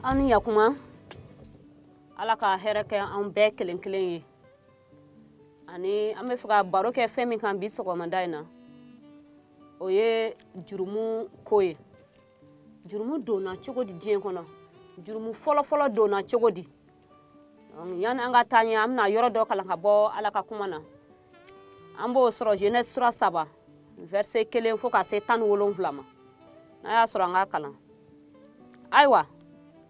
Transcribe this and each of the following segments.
aw ni yakuma ala ka hɛrɛ kɛ an bɛɛ kelen kelen ye ani an bɛ fɛ ka baro kɛ fɛn min kan bi sɔgɔmada in na o ye jurumu ko ye jurumu donna cogo di diɲɛ kɔnɔ jurumu fɔlɔfɔlɔ donna cogo di yani an ka taa ɲɛ an bɛna yɔrɔ dɔ kalan ka bɔ ala ka kuma na an b'o sɔrɔ genèse sura saba verset kelen fo ka se tan ni wolonwula ma n'a y'a sɔrɔ an ka kalan ayiwa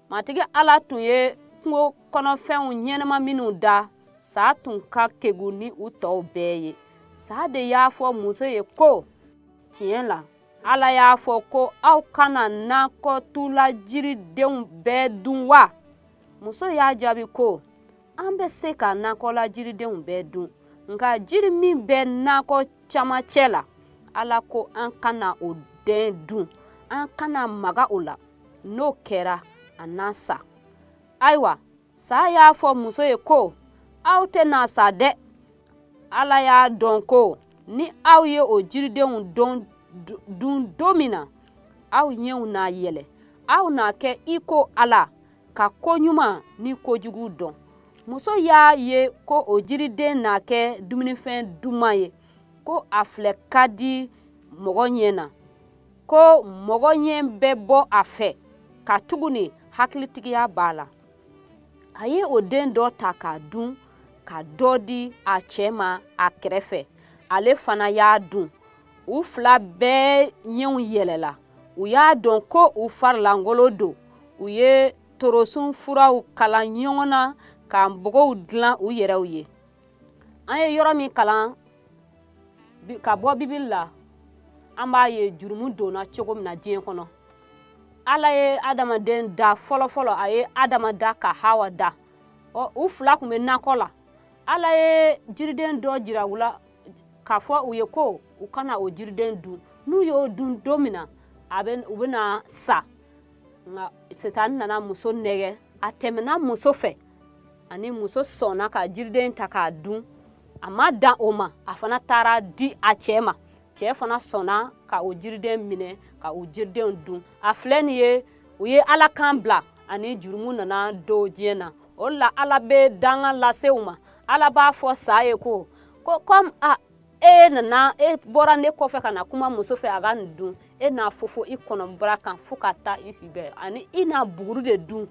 matigi ala tun ye kungo kɔnɔfɛnw ɲɛnama minnu da saa tun ka kegu ni u tɔw bɛɛ ye saa de y'a fɔ muso ye ko tiɲɛ la ala y'a fɔ ko aw kana nakɔtula jiridenw bɛɛ dun wa muso y'a jaabi ko an bɛ se ka nakɔla jiridenw bɛɛ dun nka jiri min bɛ nakɔ camancɛ la ala ko an kana o den dun an kana maga o la n'o kɛra an na sa ayiwa sa y'a fɔ muso ye ko aw tɛna sa dɛ ala y'a dɔn ko ni aw ye o jiridenw dun don min na aw ɲɛw na yɛlɛ aw na kɛ i ko ala ka ko ɲuman ni kojugu dɔn muso y'a ye ko o jiriden na kɛ dumunifɛn duman ye ko a filɛ ka di mɔgɔ ɲɛ na ko mɔgɔ ɲɛ bɛ bɔ a fɛ katuguni hakilitigiya b'a la a ye o den dɔ ta k'a dun ka dɔ di a cɛ ma a kɛrɛfɛ ale fana y'a dun u fila bɛɛ ɲɛw yɛlɛla u y'a dɔn ko u farilankolon don u ye torosun furaw kalan ɲɔgɔn na ka npogow dilan u yɛrɛw ye an ye yɔrɔ min kalan ka bɔ bibili la an b'a ye jurumu donna cogo min na diɲɛ kɔnɔ ala ye adamaden da fɔlɔfɔlɔ a ye adama da ka hawa da ɔ u fila tun bɛ nakɔ la ala ye jiriden dɔ jira u la k'a fɔ u ye ko u kana o jiriden dun n'u y'o dun don min na u bɛna sa nka sitani nana muso nɛgɛ a tɛmɛna muso fɛ ani muso sɔnna ka jiriden ta k'a dun a ma dan o ma a fana taara di a cɛɛ ma cɛɛ fana sɔnna ka o jiriden minɛ ka o jiridenw dun a filɛ nin ye u ye ala kan bila ani jurumu nana don diɲɛ na o la ala bɛ danga lase u ma ala b'a fɔ sa ye ko ko comme a e nana e bɔra ne kɔfɛ ka na kuma muso fɛ a ka nin dun e na fofo i kɔnɔbara kan fo ka taa i si bɛɛ ani i na buguru de dun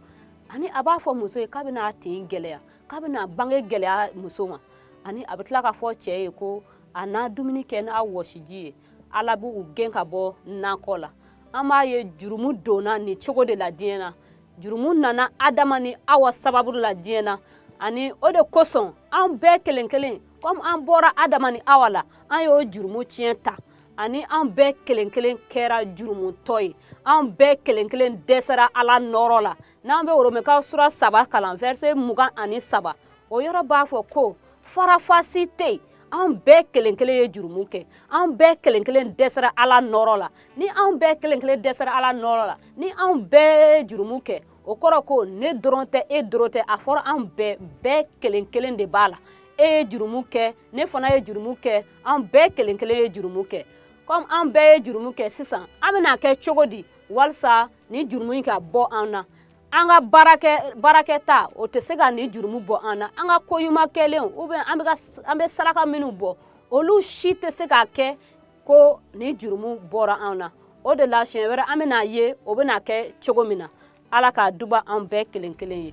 ani a b'a fɔ muso ye k'a bɛna a tin gɛlɛya k'a bɛna bange gɛlɛya muso ma ani a bɛ tila k'a fɔ cɛ ye ko a na dumuni kɛ n'a wɔsiji ye ala b'u gɛn ka bɔ nakɔ la an b'a ye jurumu donna nin cogo de la diɲɛ na jurumu nana adama ni awa sababu la diɲɛ na ani o de kosɔn an bɛɛ kelen kelen komi an bɔra adama ni awa la an y'o jurumu tiɲɛ ta ani an bɛɛ kelen kelen kɛra jurumutɔ ye an bɛɛ kelen kelen dɛsɛra ala nɔɔrɔ la n'an bɛ romɛkaw sura saba kalan vɛrse mugan ani saba o yɔrɔ b'a fɔ ko farafasi tɛ yen an bɛɛ kelen kelen ye jurumu kɛ an bɛɛ kelen kelen dɛsɛra ala nɔɔrɔ la ni an bɛɛ kelen kelen dɛsɛra ala nɔɔrɔ la ni an bɛɛ ye jurumu kɛ o kɔrɔ ko ne dɔrɔn tɛ e dɔrɔn tɛ a fɔra an bɛɛ bɛɛ kelen kelen de b'a la e ye jurumu kɛ ne fana ye jurumu kɛ an bɛɛ kelen kelen ye jurumu kɛ kɔmi an bɛɛ ye jurumu kɛ sisan an bɛna kɛ cogo di walisa nin jurumu in ka bɔ an na an ka baarakɛ baarakɛta o tɛ se ka nin jurumu bɔ an na an ka ko ɲuman kɛlenw ou bien an bɛ saraka minnu bɔ olu si tɛ se ka kɛ ko nin jurumu bɔra an na o de la siɲɛ wɛrɛ an bɛna a ye o bɛna kɛ cogo min na ala ka duba an bɛɛ kelen kelen ye